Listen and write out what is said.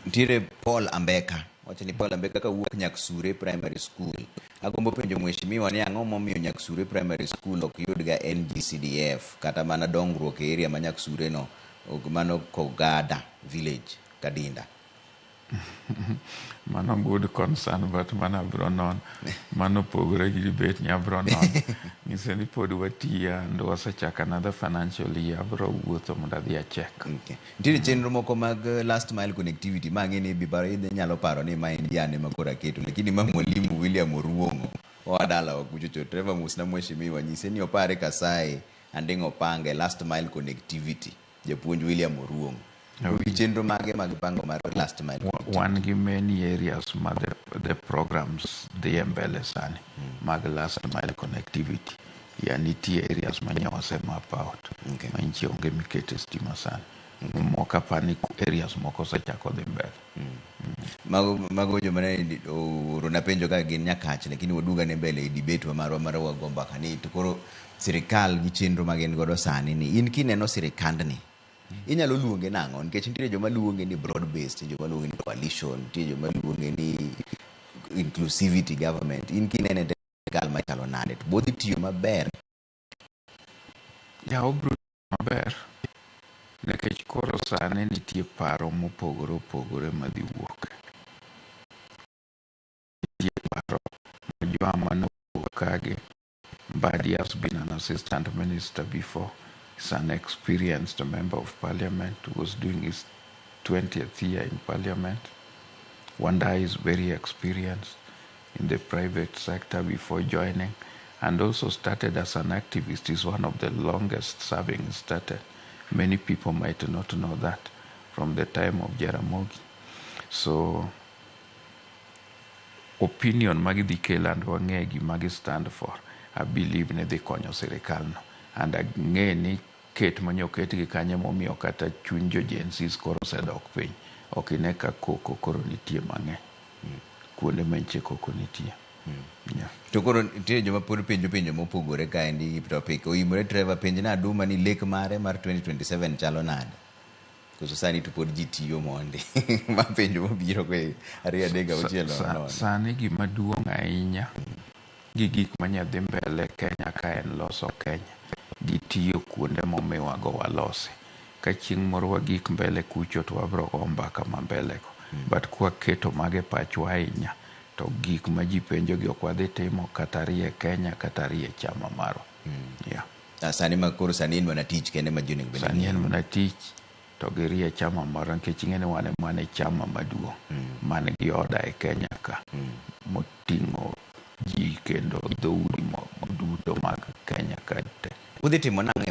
Nitiere Paul Ambeka. Wacho ni Paul Ambeka kawuok Nyaksure Primary School. Agombo penjo mheshimiwa ni ang'o momiyo Nyaksure Primary School ok yudga NGCDF kata mana dongruok e area ma Nyaksure no ok- mano Kogada village Kadinda. Mano good concern but mano abro non. Mano opogore gi debate ni abro non. Ng'iso ni pod watiya and wasechako another financial year abro wuotho mondo adhi achek. Okay. Nitiere chenro moko mag eh, last mile connectivity ma ang'e ni bibaro inyalo paro ni ma en jane ma koro aketo lakini ma mwalimu William Oruong'o oa dala wa kucho cho Trevor Musna mheshimiwa nyise ni opare kasaye anding' opange last mile connectivity japuonj William Oruong'o Un gi chenro mage mag pango mar last mile Wa- connectivity? wan gi many areas ma the, the programs dhie mbele sani mag last mile connectivity Yeah, nitie areas ma nyawa se map out. Okay. Ma nchi onge mikete stima sana. Okay. Moko apani areas moko osechako dhi mbele. Mm. Mm. Mago, mago joma ne orona penjo ka gin nyakach lakini waduga ne mbele e debate wa marwa mar wago mbaka ni to koro sirikal gi chenro ma gin godo sani ni in kineno sirikandni inyalo luonge nang'o nikech nitiere joma luonge ni broad based joma luonge ni coalition nitie joma luonge ni inclusivity government in kinene gal machalo nade to bodhi tiyo maber ya obro maber nikech koro sani nitie paro mopogore opogore madhi wuok nitie paro ma joama nowuok kagi Mbadi has been an assistant minister before he's an experienced member of parliament who was doing his 20th year in parliament Wanda is very experienced in the private sector before joining and also started as an activist is one of the longest serving staten many people might not know that from the time of Jaramogi so opinion ma gidhi kelo and wang'e gima gi stand for I believe ni dhi konyo sirikal no and ang'e ni Ket mane oketgi kanyo emomiyo kata chuny jo Gen-Zs koro osedok piny. Ok ine ka koko koro nitie mang'eny kuonde ma nyiche koko nitie. Yeah. To koro nitiere joma pod penjo penjo mopogore kaendi hip topic oimore Trevor penj na Aduma ni lek mare mar 2027 chalo nade? Koso sani to pod ji tiyo mondi? Ma penjo mobiro go e ariyo adek gi auchiel nono nono. Sani gima duong' ahinya gi gik manya dhi mbele Kenya ka en loso Kenya gi tiyo kuonde momiwa go walosi. Ka chieng' moro wagik mbele kucho to wabiro go mbaka ma mbele go. But kwa keto mago e pachwa ahinya to gik ma ji penjo gi ok wadhi timo kata rie Kenya kata rie chama marwa. Yeah. Ah, Sani ma koro sani en mana tich kende ma ji onego bed ni Sani en ng'iyo. mana tich. to girie chama moro nikech ing'e ni wan e mane chama maduong' man gi oda e Kenya ka moting'o ji kendo dhoudi mo- duto mag Kenya ka te. Udhi timo nang'o e wach